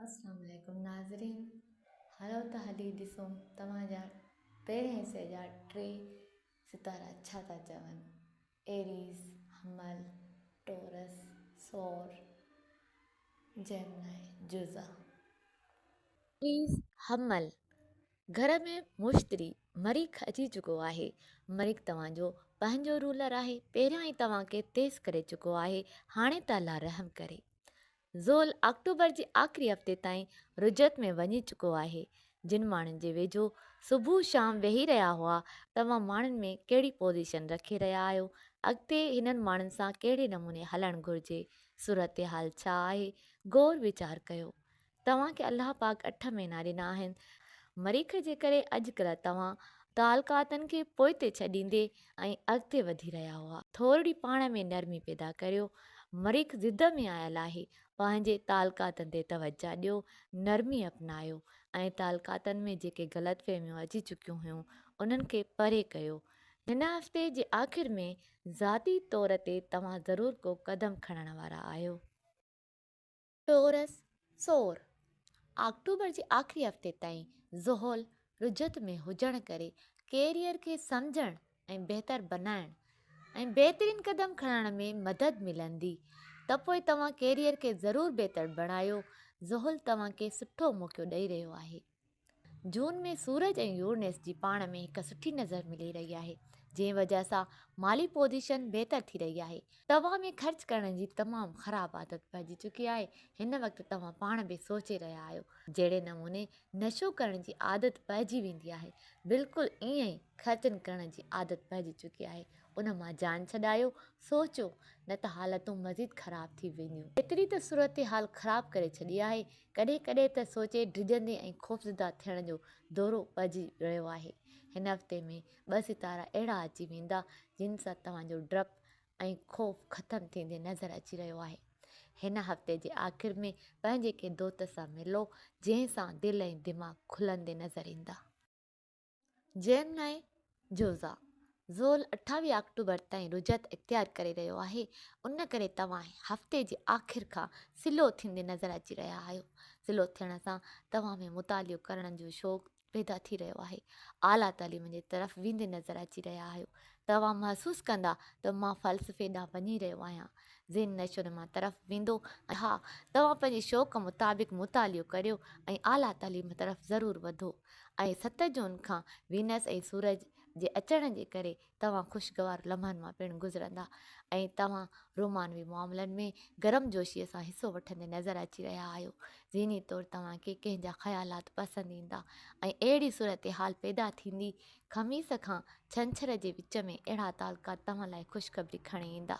السلام عليڪم ناظرين هلو ته هلي ڏسون توهان جا پهرين حصي جا ٽي ستارا ڇا ٿا چون ايريز حمل ٽورس ثور جيمنائي جوزا ايريز حمل گهر ۾ مشتري مريخ اچي چڪو آهي مريخ توهان جو پنهنجو رولر آهي پهريان ئي توهان کي تيز ڪري چڪو آهي هاڻي ته الله رحم ڪري زول آڪٽوبر جي آخري هفتي تائين رجعت ۾ وڃي چڪو آهي، جن ماڻهن جي ويجهو صبح شام ويهي رهيا هئا، توهان ماڻهن ۾ ڪهڙي پوزيشن رکي رهيا آهيو، اڳتي هنن ماڻهن سان ڪهڙي نموني هلڻ گهرجي، صورتحال ڇا آهي، غور ويچار ڪيو. توهان کي الله پاڪ اٺ مهينا ڏنا آهن، مريخ جي ڪري اڄڪلهه توهان تعلقاتن کي پوئتي ڇڏيندي ۽ اڳتي وڌي رهيا هئا. ٿورڙي پاڻ ۾ نرمي پيدا ڪريو. مريخ ضد ۾ آيل آهي. پنهنجي تعلقاتن تي توجهه ڏيو. نرمي اپنايو ۽ تعلقاتن ۾ جيڪي غلط فهميون اچي چڪيون هيون انهن کي پري ڪيو. هن هفتي جي آخر ۾ ذاتي طور تي توهان ضرور ڪو قدم کڻڻ وارا آهيو. ٽورس، سور، آڪٽوبر جي آخري هفتي تائين زحل رجعت ۾ هجڻ ڪري ڪيريئر کي سمجهڻ ۽ بهتر بنائڻ ۽ بهترين قدم کڻڻ ۾ مدد ملندي ته پوء توهان ڪيريئر کي ضرور بهتر بڻايو زحل توهان کي سٺو موقعو ڏئي رهيو آهي. جون ۾ سورج ۽ يورنس جي پاڻ ۾ هڪ سٺي نظر ملي رهي آهي جنهن وجهه سان مالي پوزيشن بهتر ٿي رهي آهي. توهان ۾ خرچ ڪرڻ جي تمام خراب عادت پئجي چڪي آهي هن وقت توهان پاڻ به سوچي رهيا آهيو جهڙي نموني نشو ڪرڻ جي عادت پئجي ويندي آهي بلڪل ائين ئي خرچن ڪرڻ جي عادت پئجي چڪي آهي ان مان جان ڇڏايو سوچيو نه ته حالتون مزيد خراب ٿي وينديون. ايتري ته صورتحال خراب ڪري ڇڏي آهي ڪڏهن ڪڏهن ته سوچي ڊڄندي ۽ خوفزده ٿيڻ جو دورو پئجي رهيو آهي. هن هفتي ۾ ٻه ستارا اهڙا اچي ويندا جن سان توهان جو ڊپ ۽ خوف ختم ٿيندي نظر اچي رهيو آهي. هن هفتي جي آخر ۾ پنهنجي ڪنهن دوست سان ملو جنهن سان دل ۽ دماغ کلندي نظر ايندا. جيمنائي جوزا زول اٺاويهه آڪٽوبر تائين رجعت اختيار ڪري رهيو آهي ان ڪري توهان هفتي جي آخر کان سلو ٿيندي نظر اچي رهيا آهيو سلو ٿيڻ سان توهان ۾ مطالعو ڪرڻ جو شوق پيدا ٿي رهيو آهي اعليٰ تعليم جي طرف ويندي نظر اچي رهيا آهيو توهان محسوس ڪندا ته مان فلسفي ڏانهن وڃي رهيو آهيان ذهن نشو نما طرف ويندو ها توهان پنهنجي شوق مطابق مطالعو ڪريو ۽ اعليٰ تعليم طرف ضرور وڌو ۽ ست جون کان وينس ۽ سورج جي اچڻ جي ڪري توهان خوشگوار لمحن مان پڻ گذرندا ۽ توهان رومانوي معاملن ۾ گرمجوشيء سان حصو وٺندي نظر اچي رهيا آهيو. ذهني طور توهان کي ڪنهن جا خيالات پسند ايندا ۽ اهڙي صورتحال پيدا ٿيندي، خميس کان ڇنڇر جي وچ ۾ اهڙا تعلقات توهان لاء خوشخبري کڻي ايندا.